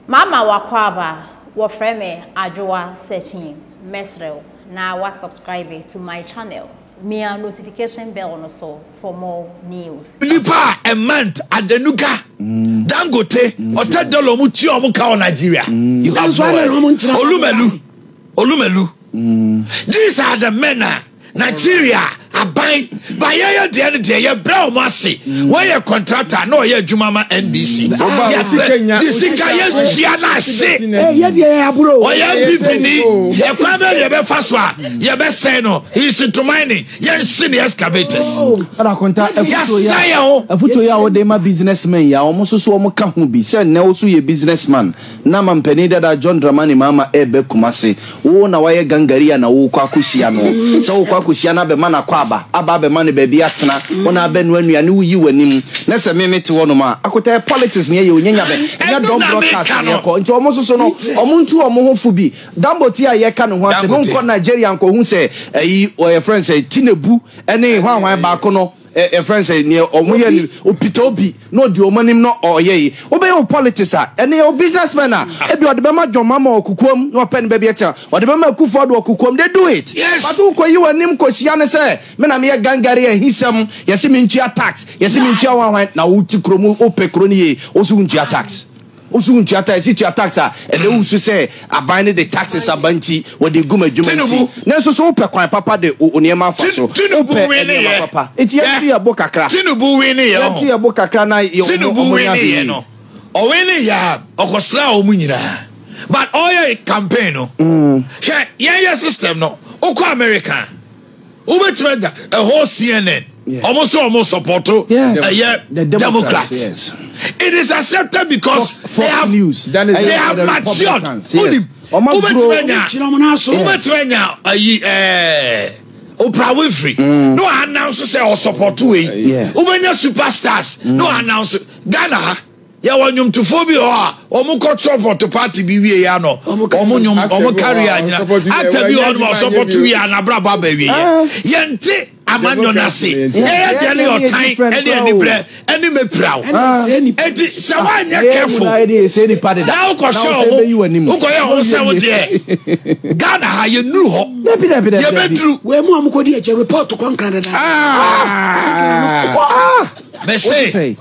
Mama w'akwaaba, wɔfrɛ me Adwoa Searchnyi, mɛsrɛ wo na wa subscribe to my channel, mia notification bell no so for more news. Nipa a Emant, Adenuga, Dangote, Ote Dolo ɔmo tua ɔmo ka wɔ Nigeria? You have no idea. Olumelu, Olumelu, these are the men a Nigeria aban ba yɛyɛ deɛ no deɛ yɛbrɛ wɔn ase mm. wɔyɛ contractor na ɔyɛ adwuma ma NBC yɛbrɛ de sika yɛtua no ase ɔyɛ npp ni yɛkwan bɛ deɛ bɛfa so a yɛbɛsɛe no nsintoman ne yɛnhye ne excavators oh. yɛsa yɛ ho afotuo yɛ a wode ma businessmen yɛ a wɔn nso so wɔn ka ho bi sɛ nnɛ wo so yɛ businessman Na mampanin dada John Dramani Mahama reba Kumasi. Wo na woayɛ gangari a na worekɔ akɔhyia no. Sɛ worekɔ akɔhyia no abɛma no akwaaba, aba abɛma no baabi atena, wo na abɛnoa nnuane woyi w'anim. Na sɛ me mete hɔnom a, akotaeɛ politics na yɛyɛ o, nyanya bɛ. Ɛnyɛ Dawn Broadcast na yɛkɔ. Nti wɔn nso so no, wɔn ntu wɔn ho fo bi. Danbote a yɛreka ne ho ase no nkɔ Nigeria nkɔhu sɛ ayi, wɔyɛfrɛ no sɛn, Tinebu ne hwanhwan baako no. Ɛ yɛfrɛ no sɛ neɛ ɔmo yɛ no opita obi na ɔdi ɔmo anim na ɔyɛ yi wobɛyɛ wo politics a ɛnɛ yɛwɔ business men a ebia ɔde bɛma John Mahama wɔ kokoam na wapɛ ne baabi atia ɔde bɛma Akuffo Addo wɔ kokoam they do it but wokɔyi w'anim kɔhyia no sɛ me na meyɛ gangari ahisɛm yɛse mentua tax yɛse mentua hwanhwan na wote kurom wopɛ kuro no yie wose wontua tax. Wo so ntua tax, si tua tax a ɛda wo su sɛ aban no de taxes aba nti wɔde gu m'adwuma nti. Nanso so wopɛ kwan papa de wo nneɛma afa so? Wopɛ nneɛma papa? Nti yɛn nso yɛ bo kakra. Tinubu winnie yɛ ɔho. Yɛn nso yɛ bo kakra na yɛ ɔmo ɔmo yɛ ade yie. No ɔwinnie yɛ a ɔkɔsraa ɔmo nyinaa but ɔyɛ campaign no hwɛ yɛn yɛ system no wokɔ America. Wobɛtumi anya ɛhɔ CNN ɔmo so ɔmo sɔpɔto ɛyɛ democrats it is accepted because they have they have matured wonim wobɛtumi anya wobɛtumi anya ayi ɛɛ Oprah Winfrey mm. no announce sɛ ɔsɔpɔto wei wobɛnya superstars mm. no announce Ghana ha. Yɛwɔ nnwomtofoɔ bi wɔ hɔ a, wɔn kɔ sɔpɔto party bi wie yɛ no, wɔn nnwom, wɔn carry a nyina. Actor bi wɔ hɔ no, wɔn sɔpɔto wie a, n'abrabɔ aba wie yɛ. Yɛn te amanyɔ no ase. Yɛyɛ deɛ no yɛ ɔtan, ɛne anibrɛ, ɛne mɛpiraw. Eti sɛ wɔanyɛ careful, na wokɔ hyɛ wɔn ho, wokɔ yɛ wɔn sɛ wo deɛ. Ghana ha, yɛn nuru hɔ. Yɛ bɛ duru. Wɛn mu a wɔn kɔ di ɛkyɛ report kɔ nkran dada. Ah. Mɛ se.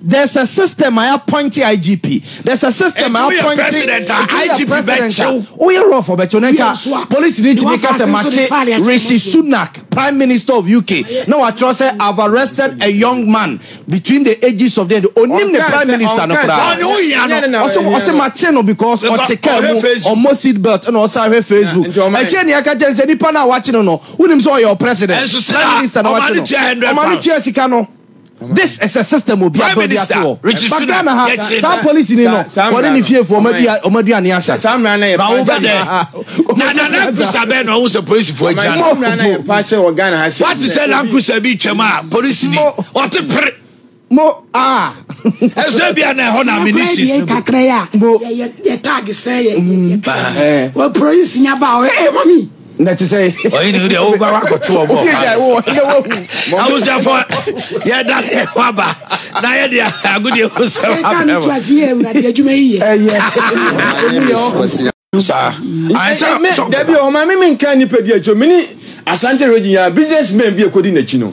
There's a system I appoint IGP. There's a system I appoint. president a IGP bɛkyew. Woyɛ rough ɔbɛkyew na nka police ni tumi ka sɛ makye Rishi Sunak prime minister of UK na watwerɛ sɛ I've arrested a young man between the ages of the end onim ne prime minister no koraa. Ɔne wohia no. Ɔse ɔse makye no because ɔte car mu ɔmmɔ seat belt na ɔsan hwɛ Facebook. Ɛkyɛ nea ɛka kyɛn sɛ nipa no a wakye no no wonim sɛ ɔyɛ ɔ president prime minister na wakye no ɔma no tua sika no. This is a system obi abɔ bi ase wɔ. Ba Ghana ha, saa polisi ni no, wɔne ne fiefoɔ wɔn aduane asa. Saa mmara no yɛ pa sɛ bɛdɛ. Na na lankusa bɛn na ɔho sɛ polisifoɔ agyina no. Saa mmara no yɛ pa sɛ wɔ Ghana ha sɛ. Wate sɛ lankusa bi twam a polisi ni ɔte pere. Mo ah. Ɛsɛ bi a na ɛhɔ na mini sis no. Kakra ya. Mo yɛ tag sɛ yɛ yɛ. Wɔ polisi nyaba ɔyɛ mami. na te sɛ ɔhene wo deɛ woba wakɔto ɔbɔ abusuafoɔ yɛda ne ho aba na yɛde agodeɛ ho sɛ dabi ɔma me menka nipa bi akyi mene asante regye nyinaa business man bi ɛkɔdi n'akyi no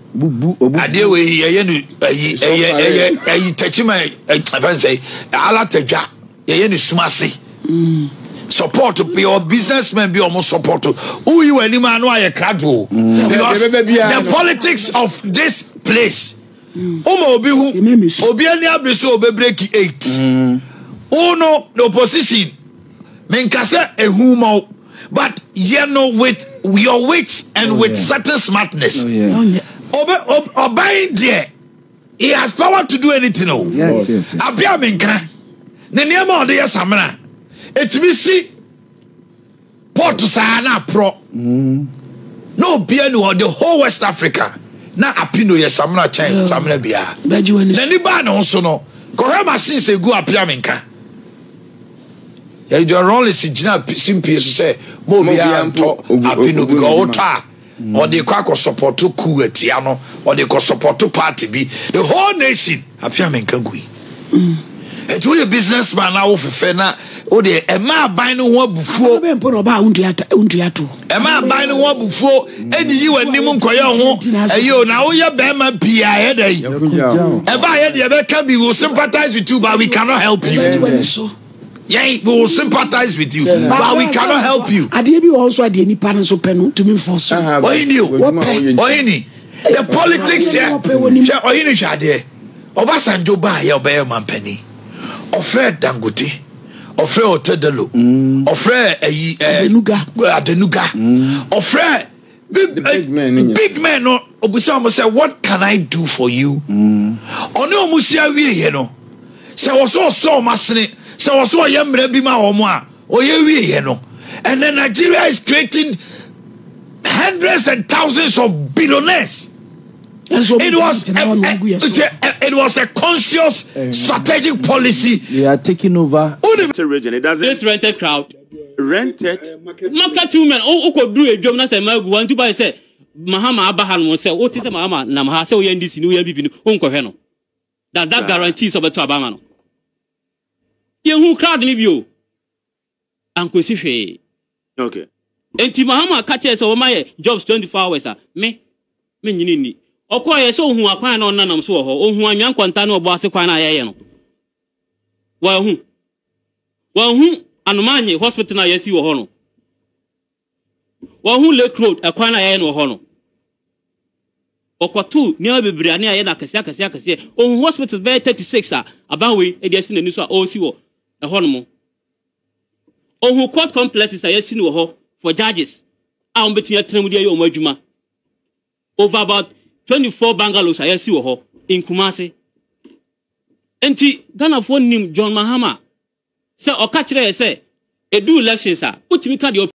bubu obubu. adeɛ wɔ yi yɛyɛ no ayi ɛyɛ ɛyɛ ayi tɛkyima ɛfɛn sɛ alatadwa yɛyɛ no sum ase mm. support yɛwɔ businessmen bi a wɔn support woyi wɔn anim ano ayɛ krado mm. because the politics of this place mm. woma obi hu obi ani abiri so obe break eight wo no the opposition menkasɛ ehu ma wo. but yɛ no with your wits and oh, with yeah. certain smartness oh, yeah. oh, yeah. Obe, ob, ɔban deɛ he has power to do anything o abia mi nka ne nneɛma ɔde yɛ samina etumi si pɔɔto saa na aporɔ mm. na obia ni wɔ the whole west africa na apino yɛ samina kyɛn samina biara n'ani baa ne ho so no kɔhɛ machines egu apia mi nka. Yɛde Joy Rawlings gyina simpie so sɛ ma obiara ntɔ ape no bi ka ɔwotɔ a mm. ɔde kɔ akɔ sɔpɔto kuu atia no ɔde kɔ sɔpɔto party bi the whole nation ape a menka gu yi ɛti mm. woyɛ business man na wofefɛ na wode ɛma aban no ho abufuo Ɛma aban no ho abufuo ɛnyi yi wɔn anim nkɔyɛ ho ɛyɛ o na woyɛ bɛrima pii a ɛyɛ dɛ yi ɛba yɛ deɛ ɛbɛka bi will sympathize with you but we cannot help you yɛn we will sympathize with you but we cannot help you. adeɛ bi wɔ nso adeɛ nipa no nso pɛ no tumi nfɔ so. ɔyìn ni o wɔpɛ ɔyìn ni the politics yɛ hwɛ ɔyìn ni hwɛ adeɛ ɔbasanjo baa yɛ ɔbɛyɛ ɔmanpanyin ɔfrɛ dangote. ɔfrɛɛ ɔtɛdɛlo ɔfrɛɛ ayi ɛɛ adenuga ɔfrɛɛ big men no obisa wɔn sɛ what can i do for you ɔne wɔn si awie yɛ no sɛ wɔsɔ ɔsɔ wɔn asene sɛ wɔsɔ ɔyɛ mmerɛ bi ma wɔn a ɔyɛ wie yɛ no and then nigeria is creating hundreds and thousands of billionaires. It was, a, a, it was a conscious eh, strategic policy. They are taking over. Rented region. It doesn't. This rented crowd. Rented. Market women. Oh, okay. Do a job. That's a magu. One two by say. Mahama abaha no sɛ wote sɛ mahama nam ha sɛ woyɛ ndc ne woyɛ mpp no wonkɔhwɛ no does that guarantee sɛ ɔbɛto abama no yɛhu crowd no bio ankosi hwee. Okay. Enti Mahama ka kyerɛɛ sɛ wɔma yɛ jobs twenty four hours a, me, me nyini nni. Ɔkɔɔeɛ sɛ ɔhuu akwan a na ɔnenanam so wɔ hɔ, ɔhuu Anwea Nkwanta ne Ɔbɔ Ase kwan no a yɛɛyɛ no. Wanhu. Wanhu Anomaanye hospital no a yɛasi wɔ hɔ no. Wɔahu Lake Road kwan no a yɛayɛ no wɔ hɔ no. Wɔkɔtoo nneɛma bebree a ne yɛayɛ no akɛseɛ akɛseɛ akɛseɛ. Ɔhu hospitals bɛyɛ 36 a aban wei de asi n'ani so a ɔresi wɔ ɛhɔnom. Ɔhu court complexes a yɛasi no wɔ hɔ for judges a wɔbɛtumi atena mu de ayɛ wɔn adwuma. Over about 24 bungalows a yɛasi wɔ hɔ in Kumasi. Nti Ghanafoɔ nim John Mahama sɛ ɔka kyerɛ yɛ sɛ ɛdu elections a wotumi ka deɛ